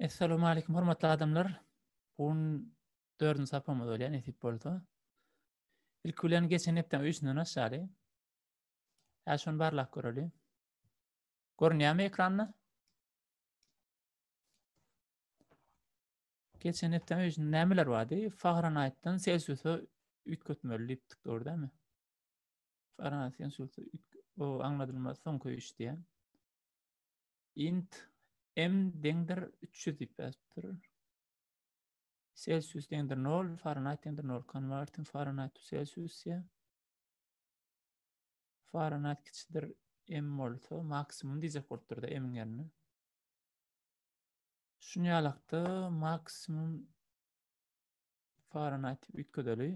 Essalowmalikim hormatly adamlar. Bu gün 4-nji sapamyz bolýar nesip bolsa. Ilki bilen geçen hepdäň öýsünden aşaly. Hä şony barlap göreli. Görünýärmi ekranda? Geçen hepdäň öýsünde nämeler bardy? Fahrenheitden Celsiusa üýtgetmeli diýipdik, dogry dämi? Fahrenheit Celsiusa o aňladylmaz soňky öýüş diýen. Int M deňdir 300 diýip ýazypdyr. Celsius deňdir 0, Fahrenheit deňdir 0. Converting Fahrenheit to Celsius ya. Fahrenheit kiçidir M bolsa maksimum diýjek bolupdyr da M-iň ýerine. Şuny ýalakda maksimum Fahrenheit üýtgedeli.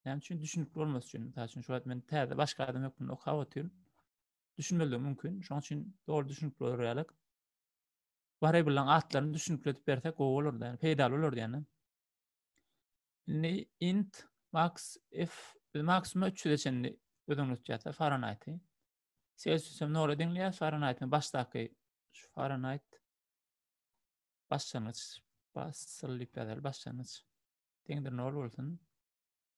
Näme üçin düşünikli bolmasy üçin. Mysal üçin şu wagt men täze başga adam hökmünde okap otyryn. düşünmezligi mümkin. Şoň üçin dogry düşünip görýärlik. Bahre bilen atlaryny düşünip edip berse gowy bolardy. Yani, peýdaly bolardy yani. Indi int max f biz maksimum 300-e çenli ödeňletýärse Fahrenheit-i. Celsius hem nol ödeňleýär, Fahrenheit hem başdaky şu Fahrenheit başlangyç basylyp ýazar başlangyç. Deňdir nol bolsun.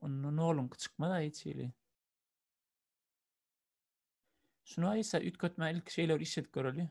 Onda noluňky çykmaz-a hiç hili. Şunu aýsa üýtgetmän ilki şeýle bir iş edip göreli.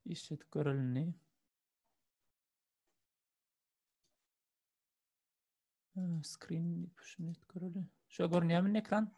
işledip görelini. Screen push'unu et göreli. Şu görünýärmi ekran?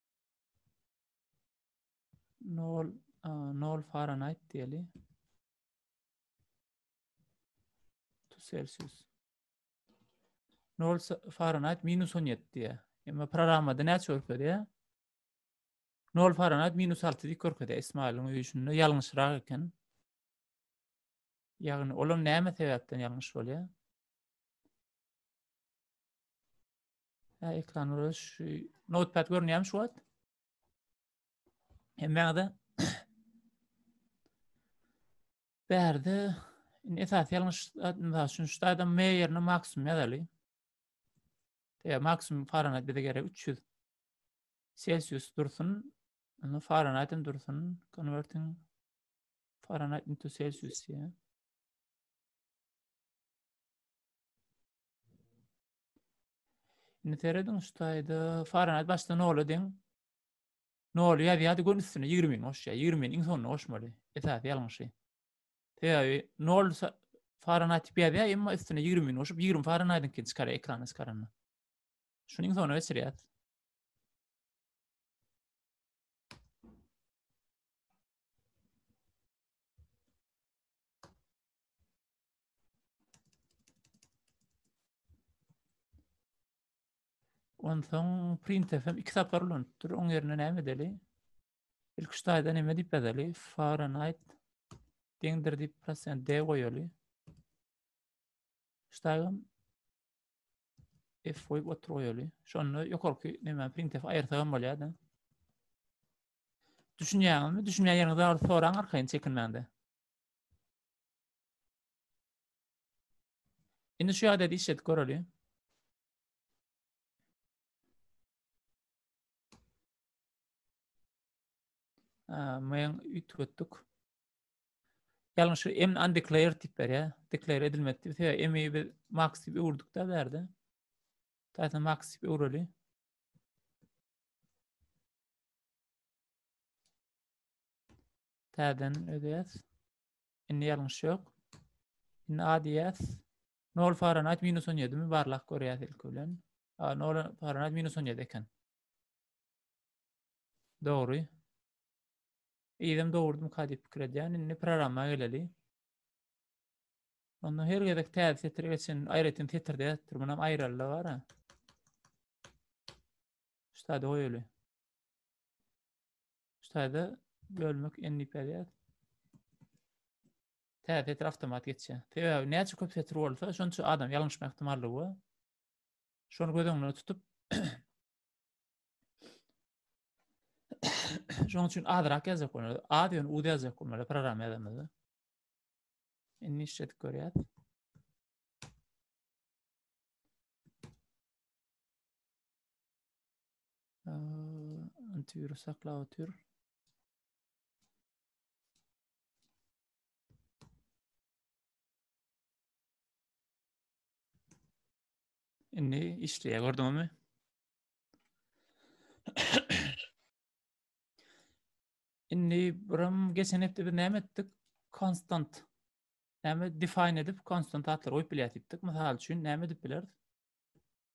nol nol faranayt diýeli to celsius nol faranayt minus on ýetti diýä emma programmada näçe görkezýä nol faranayt minus alty diýip görkezýä ismailiň öýi şunda ýalňyşrak eken ýagny olam näme sebäpden ýalňyş bolýar Hä, ekran biraz şu notepad görünýärmi şu wagt? Hemmäňize bärde indi esasy ýalňyş mysal üçin şu adam M ýerine maksimum ýazaly. Ýa maksimum Fahrenheit bize gerek 300 Celsius dursun. Indi Fahrenheit hem dursun. Converting Fahrenheit into Celsius ýa. Indi serediň şu taýda Fahrenheit başda nola deň. Nol ýazýardy gün üstüne 20 mini goşýar. 20 mini iň soňunda goşmaly. Esasy ýalňyşy. Sebäbi nol Fahrenheit diýip ýazýar, emma üstüne 20 mini goşup 20 Fahrenheitiňkini çykarýar ekrana çykaranda. Şuny iň soňuna geçirýär. Onsoň printf hem iki sapar ulanypdyr. Oň ýerine näme edeli? Ilk üç taýda näme diýip ýazaly? Fahrenheit deňdir diýip prosent D goýaly. Ştaýam F goýup otur goýaly. Şonda ýokarky näme printf aýyrsa hem bolýar-da. Düşünýäňizmi? Düşünýän ýeriňizi alyp soraň arkaýyn çekinmäňde. Indi şu ýagdaýda işledip göreli. Men ütgetdik. Ýalňyş şu emni undeclared diýip berýär. Declare edilmedi diýip. Sebäbi emi biz max diýip öwürdikde berdi. Täze max diýip öwreli. Täzen ödäs. Indi ýalňyş ýok. Indi A diýýäs. 0 Fahrenheit minus 17 mi barlak görýäs ilki bilen. A 0 Fahrenheit minus 17 eken. Dogry. Ýerim dogurdym ka diýip pikir edýän. Indi programma geleli. Onda her gezek täze setir geçen aýratyn setirde ýatdyr. Munam aýraldy bar. Ştada goýaly. Şu taýda bölmek endi berýär. Täze setir avtomat geçýär. Sebäbi näçe köp setir bolsa, şonça adam ýalňyşma ihtimallygy bar. Şony göz öňünde tutup Şoň üçin azrak ýazjak bolmaly. Az ýöne uz ýazjak bolmaly programma ýazamyzda. Indi işletip görýär. Antivirus saklap otur. Indi işleýär, gördüňizmi? Indi buram geçen hepde biz näme etdik? Konstant. Näme define edip konstant atlar goýup bilýärdik. Mysal üçin näme edip bileris?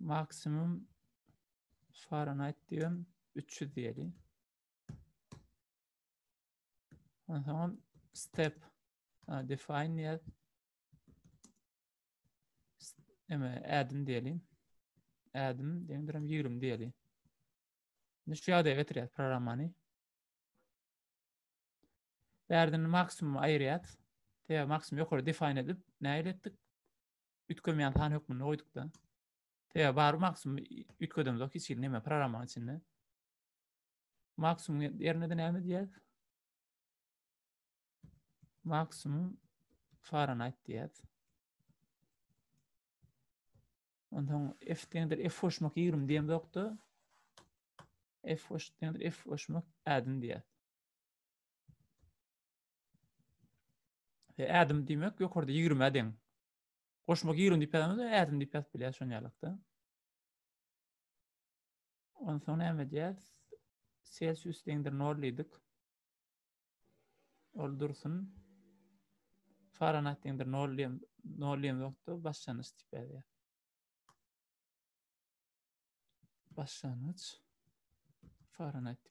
Maksimum Fahrenheit diýen 300 diýeli. Ondan soň step define diýer. Eme add-in diýeli. Add-in deňdir 20 diýeli. Indi şu ýagdaýa getirýär programmany. Bärden maksimum aýyrýar. Täze maksimum ýokary define edip, näme etdik? üýtgemeýän san hökmünde goýduk-da. Sebäbi bar maksimum üýtgedemzok hiç hili näme programmanyň içinde. Maksimum ýerine-de näme diýýäs? Maksimum Fahrenheit diýýäs. Ondan F deňdir F hoşmak 20 diýem ýokda. F hoş deňdir F hoşmak ädin diýýär. E, ädim diýmek ýokarda 20 deň. Goşmak 20 diýip ýazamyzda ädim diýip ýazyp bilýäs şoň ýalykda. Ondan soň näme edýäs? Celsius deňdir 0 diýdik. Ol dursun. Fahrenheit deňdir 0 diýen 0 diýen wagtda başlangyç diýip ýazýar. Başlangyç Fahrenheit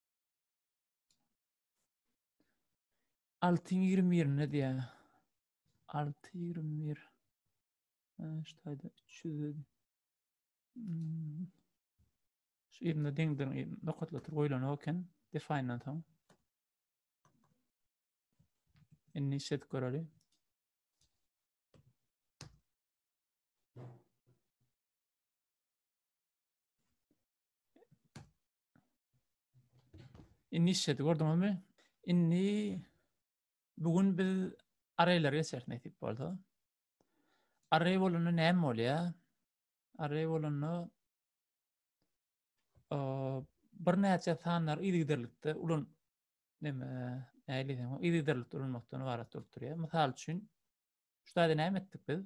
Alty ýigrimi bir ne diýä? Alty ýigrimi bir. Ştaýda üç ýüz. Hmm. Şu ýerinde deňden nokatlatyp goýlan eken. Define-dan soň. Indi işledip göreli. Inni işedi gördüňizmi? Inni bugün biz arraýlary geçeris nesip bolsa. Arraý bolanda näme bolýar? Arraý bolanda bir näçe sanlar yzygiderlikde ulan näme näýleýän yzygiderlikde ulanmakdan ibarat bolup durýar. Mysal üçin, şu taýda näme etdik biz?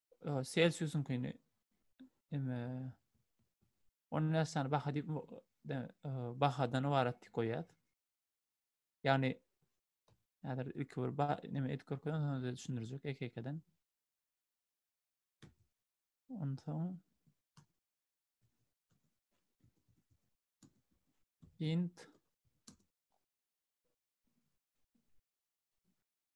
Celsiusyňkyny eme on näsani baha diýip bahadan ibarat diýip goýýar. Ýagny häzir ilki bir ba neme edip görkezip ondan soň düşündirjek eke-ekeden. Ondan soň int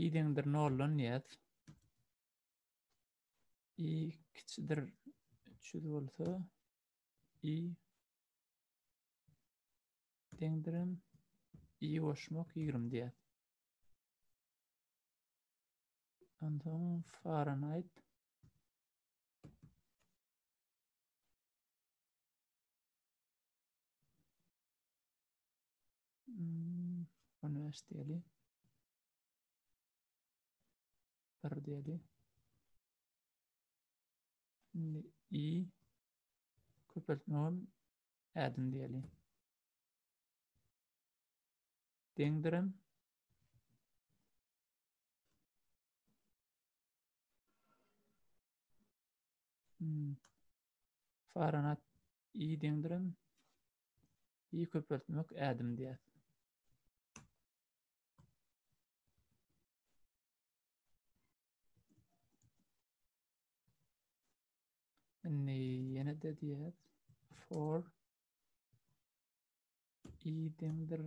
i deňdir noldan ýaz. i kiçidir 300 bolsa i deňdirim i goşmak 20 diýär. Ondan Fahrenheit 15 diýeli. 1 diýeli. Şimdi i köpeltme ol ädim diýeli. Deňdirem. Hmm. Faranat i deňdirem. i köpeltmek ädim diýýär. Indi ýene de diýýär for i deňdir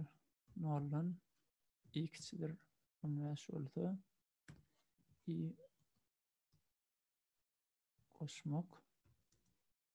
noldan i kiçidir 15 bolsa i goşmak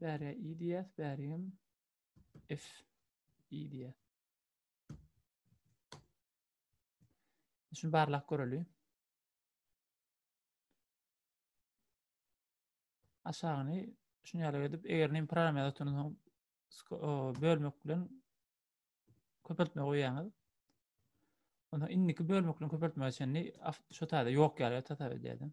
Bärä i diýýäs, bärigem f i diýýäs. Şuny barlap göreli. Aşagyny şuny ýaly edip, eger näme program ýazyp dursaň, bölmek bilen köpeltme goýýaňyz. Onda indiki bölmek bilen köpeltme çenli şu taýda ýok ýaly tasap edýärdim.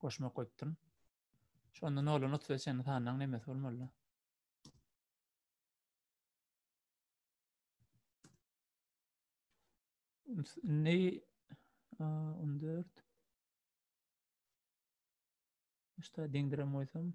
Goşmak goýupdyryn. Şonda noldan otuz beş çenli sanlaň nemesi bolmaly? Ne? On dört. İşte deňdirem koysam.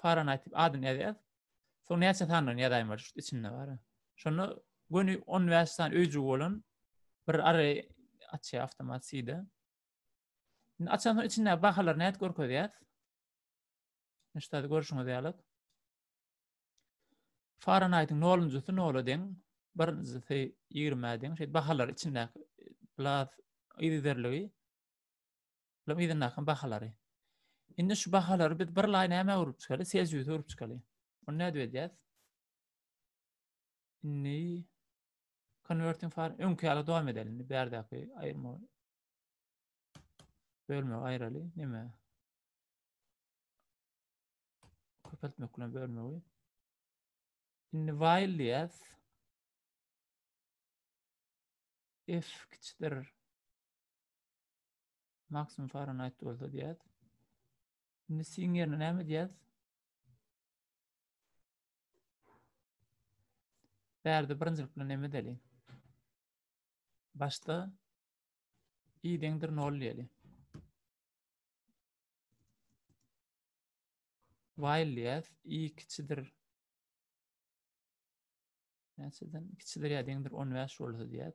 Fahrenheit diýip adyny ýazýas. Soň näçe sandan ýazaýma şu içinde bar. Şonda göni 15 san öýjügi bolan bir ary açýar awtomat side. Indi açan soň içinde bahalar näet görkezýär. Näçe ady görüşüňiz ýaly. Fahrenheit 0-njysy 0-a deň, birinjisi 20-a deň. Şeýle bahalar içinde blas yzerligi. Olaryň yzyndaky bahalary. Indi şu bahalary biz bir laý nämä urup çykaly? Selsiusa urup çykaly. Ony nädip edýäs? Indi converting far öňki ýaly dowam edeli. Indi bärdäki aýyrma bölme aýraly näme? Köpeltmek bilen bölmegi. Indi while diýäs. F kiçikdir Maksimum Fahrenheit bolsa diýýär. Indi siň ýerine näme diýýär? Bärde birinjilik bilen näme edeli? Başda i deňdir 0 diýeli. While diýýär. i kiçidir näçeden kiçidir ýa deňdir 15 bolsa diýýär.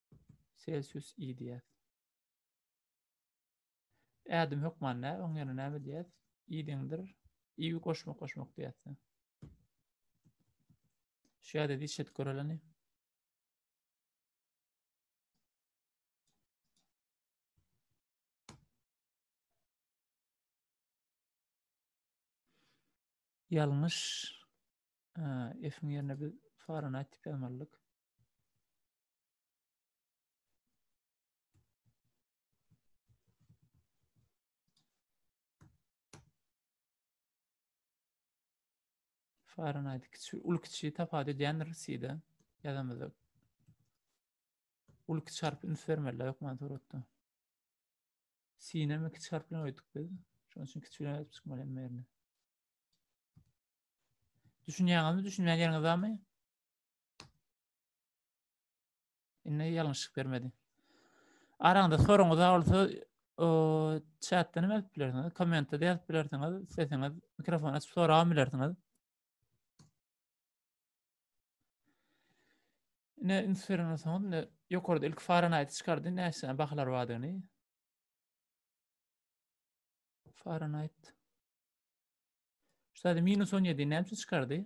Celsius i diýýäs. Ädim hökman nä, oň ýerine näme diýýäs? i deňdir. i goşmak goşmak diýýäs. Şu ýerde dişet göreleni. Ýalňyş F-iň ýerine biz Fahrenheit diýip ýazmalydyk. Fahrenheit kiçi, ul kiçi tapawut edýändir side ýazamyzda. Ul kiçi harp üns bermeli hökman suratda. Sine mi kiçi harp bilen öýdük biz. Şonuň üçin kiçi bilen çykmaly hem ýerine. Düşünýäňizmi, düşünmeýän ýeriňiz barmy? Indi ýalňyşlyk bermedi. Araňda soruňyz bolsa, o chatda näme edip bilersiňiz? Kommentde de ýazyp bilersiňiz. Sesiňiz mikrofon açyp sorap bilersiňiz. Ne Instagramda soňuz ne ýokarda ilk Fahrenheit çykardy, näçe bahalar bardygyny. Fahrenheit. Şeýle minus 17 näçe çykardy?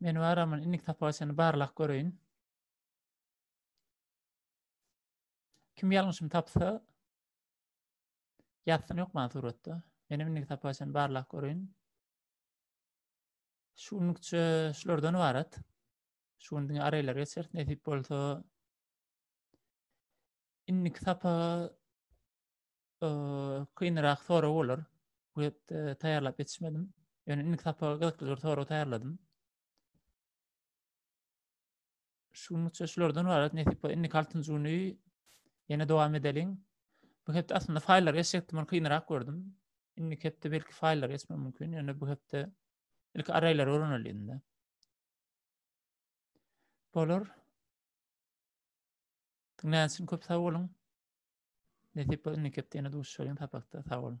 Men baramyn, indik tapawutyny barlap göreýin. Kim ýalňyşymy tapsa, ýazsyn ýok maňa suratda. Menem indik tapawutyny barlap göreýin. Şu günlükçe şulardan ibarat. Şu gün diňe araylar geçer, nesip bolsa. Indik sapa kynrak sorag bolar. Bu hepde taýýarlap ýetişmedim. Ýöne indiki sapaga gyzykly bir sorag taýýarladym. Şu günlükçe şulardan ibarat. Nesip bolsa indiki altynyjy güni ýene dowam edeliň. Bu hepde aslynda faýllar geçjekdim, ony kynrak gördüm. Indiki hepde belki faýllar geçmem mümkin, ýöne bu hepde ilki arraýlary öwreneliň-de. Bolar. Diňlän üçin köp sag boluň. Nesip bolsun mekepde ýene duşuşalyň sapakda sag boluň.